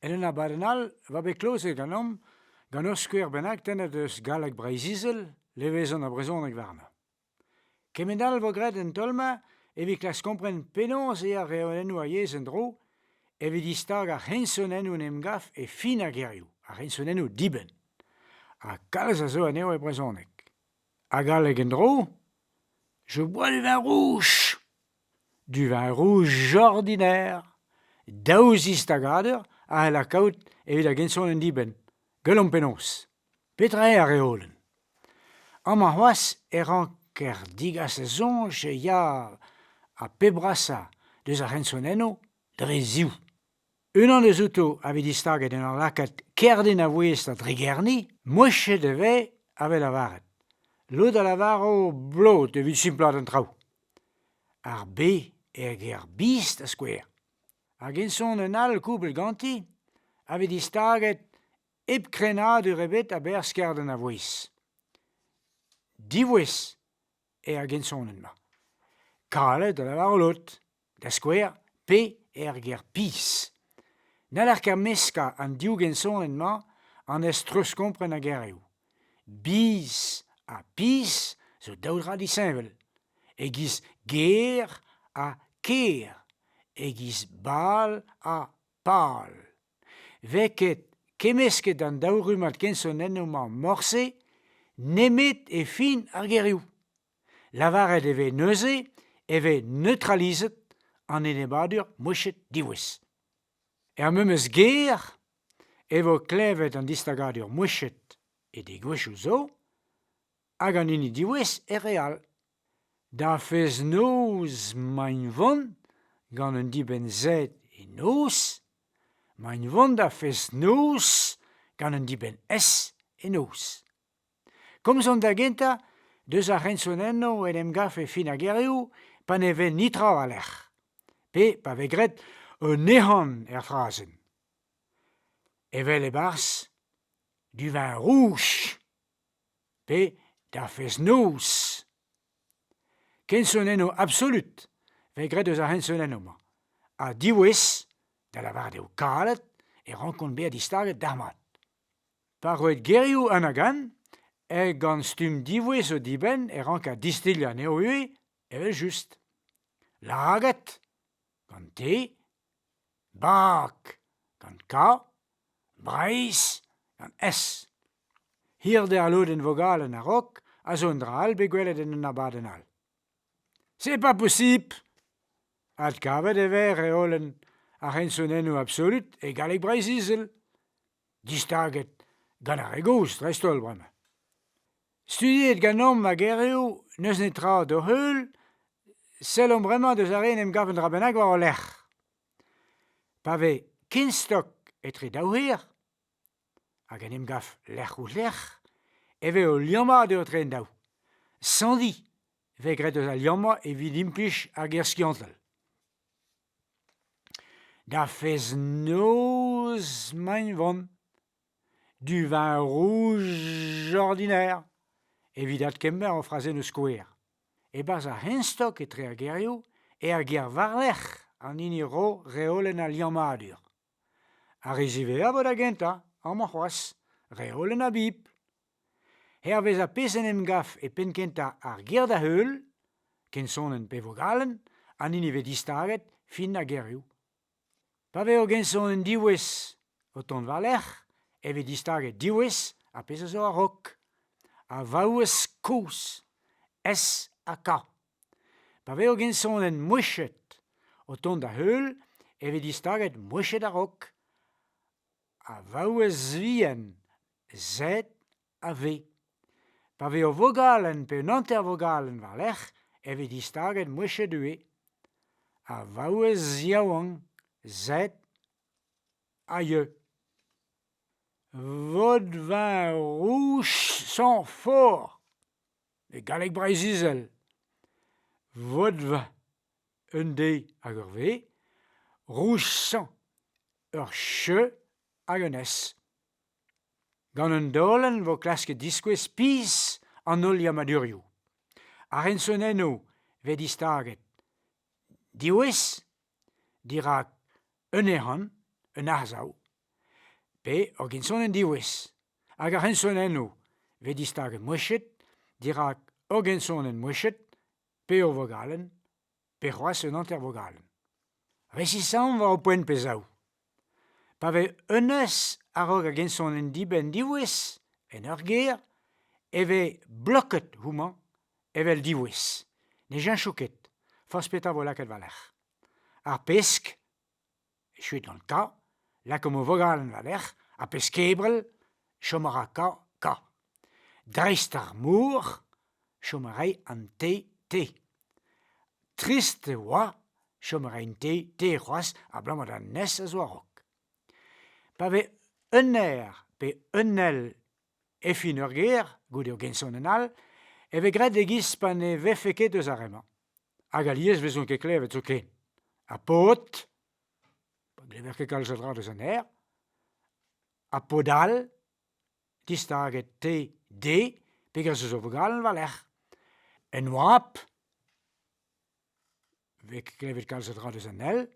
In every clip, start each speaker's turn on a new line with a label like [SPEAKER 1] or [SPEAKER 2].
[SPEAKER 1] En un abadenn all e oa bet klozet ganeomp gant ur skouer bennak tennet eus galleg Breizh-Izel, levezon ha brezhoneg warnañ. Kement all 'vo graet en taol-mañ evit klask kompren penaos eo ar reolennoù ar yezh en-dro evit distagañ ar c'hensonennoù en em gav e fin ar gerioù, ar c'hensonennoù dibenn. Ha kalz a zo anezho e brezhoneg. Ha galleg en-dro je bois du vin rouge. Du vin rouge ordinaire. Daou zistagadur a c'hell kaout evit ar gensonenn dibenn. Gwelomp penaos. Petra eo ar reolenn ? Amañ c'hoazh e ranker degas da soñj e ya ar pep brasañ deus ar c'hensonennoù dre ziv. Unan deuzouto a vez distaget en ur lakaat kerdin a-ouez da dregerniñ, mouechet e vez a-wel lavaret. Lod a lavaro blot evit simplaat an traoù. Ar B er ger biz da skouer. Hag ensonenn all kouplet ganti a vez distaget hep krenadur ebet a-berzh kerden a vouezh. Divouezh eo ar gensonenn-mañ. Kalet da lavarout out, da skouer, pe er ger pizh. N'haller ket meskañ an div gensonenn-mañ anez treuzkompren ar gerioù. Biz ha pizh zo daou dra disheñvel. E-giz ger ha ker, e-giz bal ha pal. 'Vez ket kemmesket an daou rummad kensonennoù-mañ morse nemet e fin ar gerioù. Lavaret e vez neuze e vez neutralizet an enebladur mouchet diwezh. Er memes ger e vo klevet an distagadur mouchet e degouezhioù zo hag an hini diwezh er re all. Da fest-noz 'maint 'vont gant un dibenn-sed e noz, 'maint 'vont da fest-noz gant un dibenn-s e noz. Komzomp da gentañ deus ar c'hensonennoù en em gav e fin ar gerioù pa ne vez netra war-lerc'h pe pa vez graet un ehan er frazenn. Evel e-barzh du vin rouge. Pe da fest-noz ! Kensonennoù absolut 'vez graet eus ar c'hensonennoù-mañ ha diwezh, da lavaret eo kalet, e rankont bezañ distaget dalc'hmat. Pa roet gerioù anagan, eh gant stumm diwezh zo dibenn e ranker distilhañ anezho ivez evel-just. Lagad, gant te, Bak gant K, Breizh gant S. Hirde al lodenn vogalenn a-raok a zo un dra all bet gwelet en un abadenn all. C'est pas possible! Adkavet e vez reolenn ar c'hensonennoù absolut e galleg Breizh-Izel. distaget gant ar re gozh dreist-holl bremañ. Studiet ganeomp ar gerioù n'eus netra d'o heul, sellomp bremañ deus ar re en em gav un dra bennak war o lerc'h. Pa vez kenstok etre daou c'hir hag en em gav lerc'h-ouzh-lerc'h e vez o liammañ eo etre an daou. Sandiñ vez graet eus al liammañ evit implij ar ger skiantel. Da fezh-noz 'maint 'vont du vin rouj ordinaire evit adkemer o frazenn eus skouer. E-barzh ar c'henstok etre ar gerioù, er gêr war-lerc'h, an hini 'ro reolenn al liammadur. Ar re ziwezhañ 'vo da gentañ, amañ c'hoazh, re holen ha bibl. Hervez ar pezh en em gav e penn-kentañ ar ger da-heul, kensonenn pe vogalenn an hini vez distaget fin ar gerioù. Pa vez ur gensonenn diwezh o tont war-lerc'h e vez distaget diwezh ar pezh a zo a-raok. A vaouez kozh, S ha K. Pa vezo gensonenn mouechet o tont da-heul e vez distaget mouechet a-raok a vaouez vihan Z ha V. Pa vez ur vogalenn pe un hanter-vogalenn war-lerc'h e vez distaget mouechet ivez. A vaouez yaouank Z ha Y. Vodvin rouge sans fort. E galleg Breizh-Izel vodva un d hag ur v, rousañ ur ch hag un s. Gant un daolenn vo klasket diskouez pizh an holl liammadurioù. Ar rensonennoù vez distaget diwezh dirak un ehan, un arsav pe ur ginsonenn diwezh. Hag ar c'hensonennoù 'vez distaget mouechet dirak ur gensonenn mouechet pe ur vogalenn pe c'hoazh un hanter-vogalenn. Resisaomp war ho poent pe zaou. Pa vez unvezh a-raok ar gensonenn dibenn diwezh en ur ger e vez bloket houmañ evel diwezh. Ne cheñcho ket forzh petra vo lakaet war-lerc'h. Ar pesk Echu gant Ka, lakaomp o vogalenn war-lerc'h, ha pezh kebral, chom a ra Ka Ka. Dreist ar mor, chom a ray an te te. Trist e oa chom a raint te te c'hoazh abalamour d'an nes a zo a-raok. Pa vez un aer pe un ell e fin ur gêr goude o gensonenn all e vez graet e-giz pa ne vefe ket eus ar re-mañ. Hag alies e vezont ket klevet zoken. Ha paotr, pa glever ket kalz a dra deus an aer, ha paotr all, distaget te, de, pegers eus o vugale war-lerc'h. En oabl, 'vez ket klevet kalz a dra deus an hell.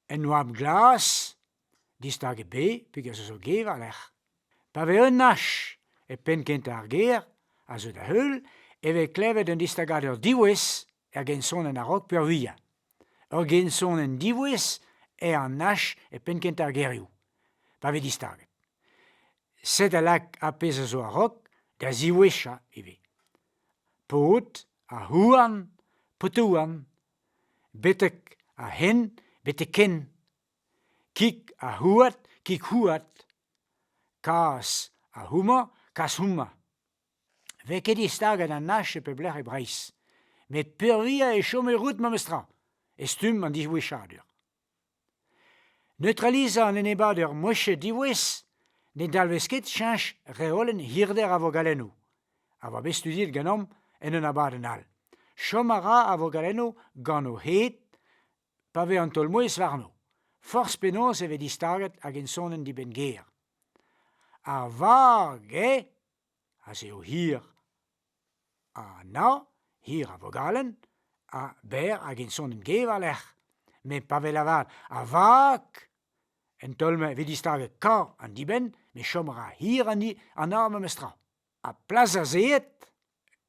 [SPEAKER 1] En oabl glas, distag ebet pegasus zo gêr a-lec'h. Pa vez un hach e penn-kentañ ar gêr, a zeu da heul, e vez klevet un distagadur diwezh er gensonenn a-raok peurvuiañ. Ur gensonenn diwezh eo an hach e penn-kentañ ar gerioù, pa vez distaget. Set a lak ar pezh a zo a-raok da ziwezhañ ivez. Paotr, ar houarn, paotouan, betek a-hen betek-hen kig ha houad kig houad kas ha houmañ kas houmañ 'vez ket distaget anach e pep lec'h e Breizh met peurvuiañ e chome rout memestra e stumm an disgweshadur Neutralizañ an enebour mouezh diwezh ne dalvez ket cheñch reolenn hirder ar vogalennoù, a oa bet studiet ganeomp en un abadenn all. Chom a ra ar vogalennoù gant o hed pa vez an taol-mouezh warno, forzh penaos e vez distaget hag ensonenn dibenn-ger. Ar varg eo ha se eo hir. Ha na, hir a vogalenn, ha berr hag int sonenn-gêr war-lerc'h. Met pa vez lavaret avak, en taol-mañ e vez distaget kañv an dibenn met chom a ra hir an arm memestra. Ha plas da zeet,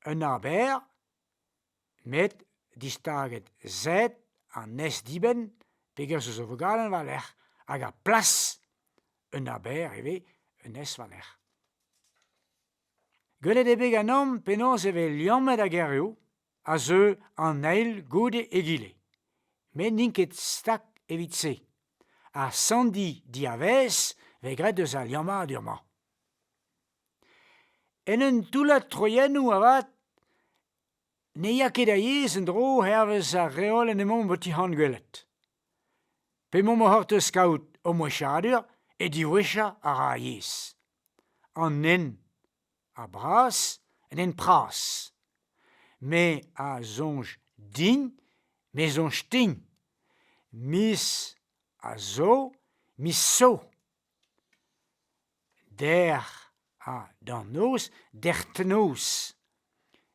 [SPEAKER 1] un arr berr, met distaget sed an nes-dibenn pegasus eo vogalenn war-lerc'h hag ar plas un aber ivez un nes war-lerc'h. Gwelet eo bet ganeomp penaos e vez liammet ar gerioù a zeu an eil goude egile met n'int ket stag evit se. Ar sanndi diavaez vez graet eus al liammadur-mañ. En un toullad troiennoù avat ne ya ket a-yezh en-dro hervez ar reolenn emaomp o tic'hangwelet. P'emaomp o c'hortoz kaout o moueshadur e diwezhañ a ra ar yezh. An nen a bras, un nen pras. Me a soñj din, me soñj din. Miz a zo, miz zo. dec'h ha d'an noz dec'hnoz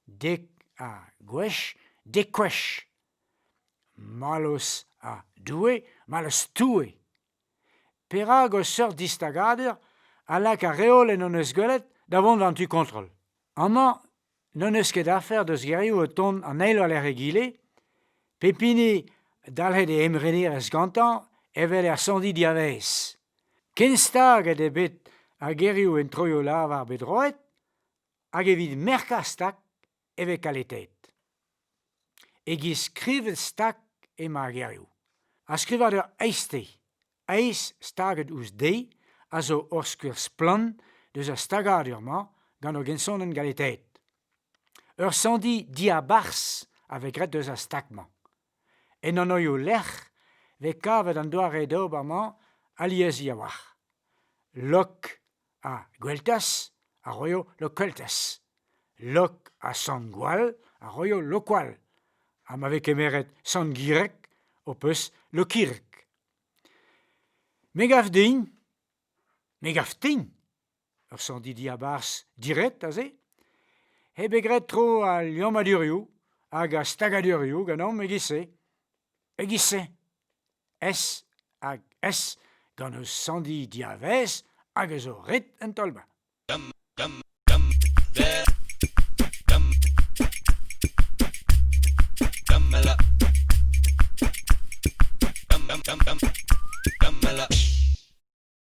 [SPEAKER 1] dek ha gwech dek-gwech mallozh ha doue mallozh toue perak o seurt distagadur a lak ar reolenn hon eus gwelet da vont d'an tu kontrol amañ n'en eus ket afer deus gerioù o tont an eil war-lerc'h egile, pep hini dalc'het e emrenerezh gantañ evel er soñdi diavaez. Ken staget eo bet ar gerioù en troioù-lavar bet roet hag evit merkañ stag e vez kaletet. Eget skrivet stag emañ ar gerioù. Ar skrivadur aiste, aes staget ouzh de, a zo ur skouer splann deus ar stagadur-mañ gant ur gensonenn galetaet. Ur sandhi diabarzh a vez graet deus ar stag-mañ. En anvioù-lec'h vez kavet an doare d'ober-mañ aliesañ a-walc'h. Lok ha gweltaz a roio lokeltaz. Lok ha sant-gwall a roio lokwall. Ha ma vez kemeret sant-gireg ho peus lokireg. Me gav din, me gav din, ur sandhi diabarzh diret aze, eo bet graet tro al liammadurioù hag ar stagadurioù ganeomp e-giz-se. E-giz-se. S hag S gant o sanndi diavaez hag a zo ret en taol-mañ.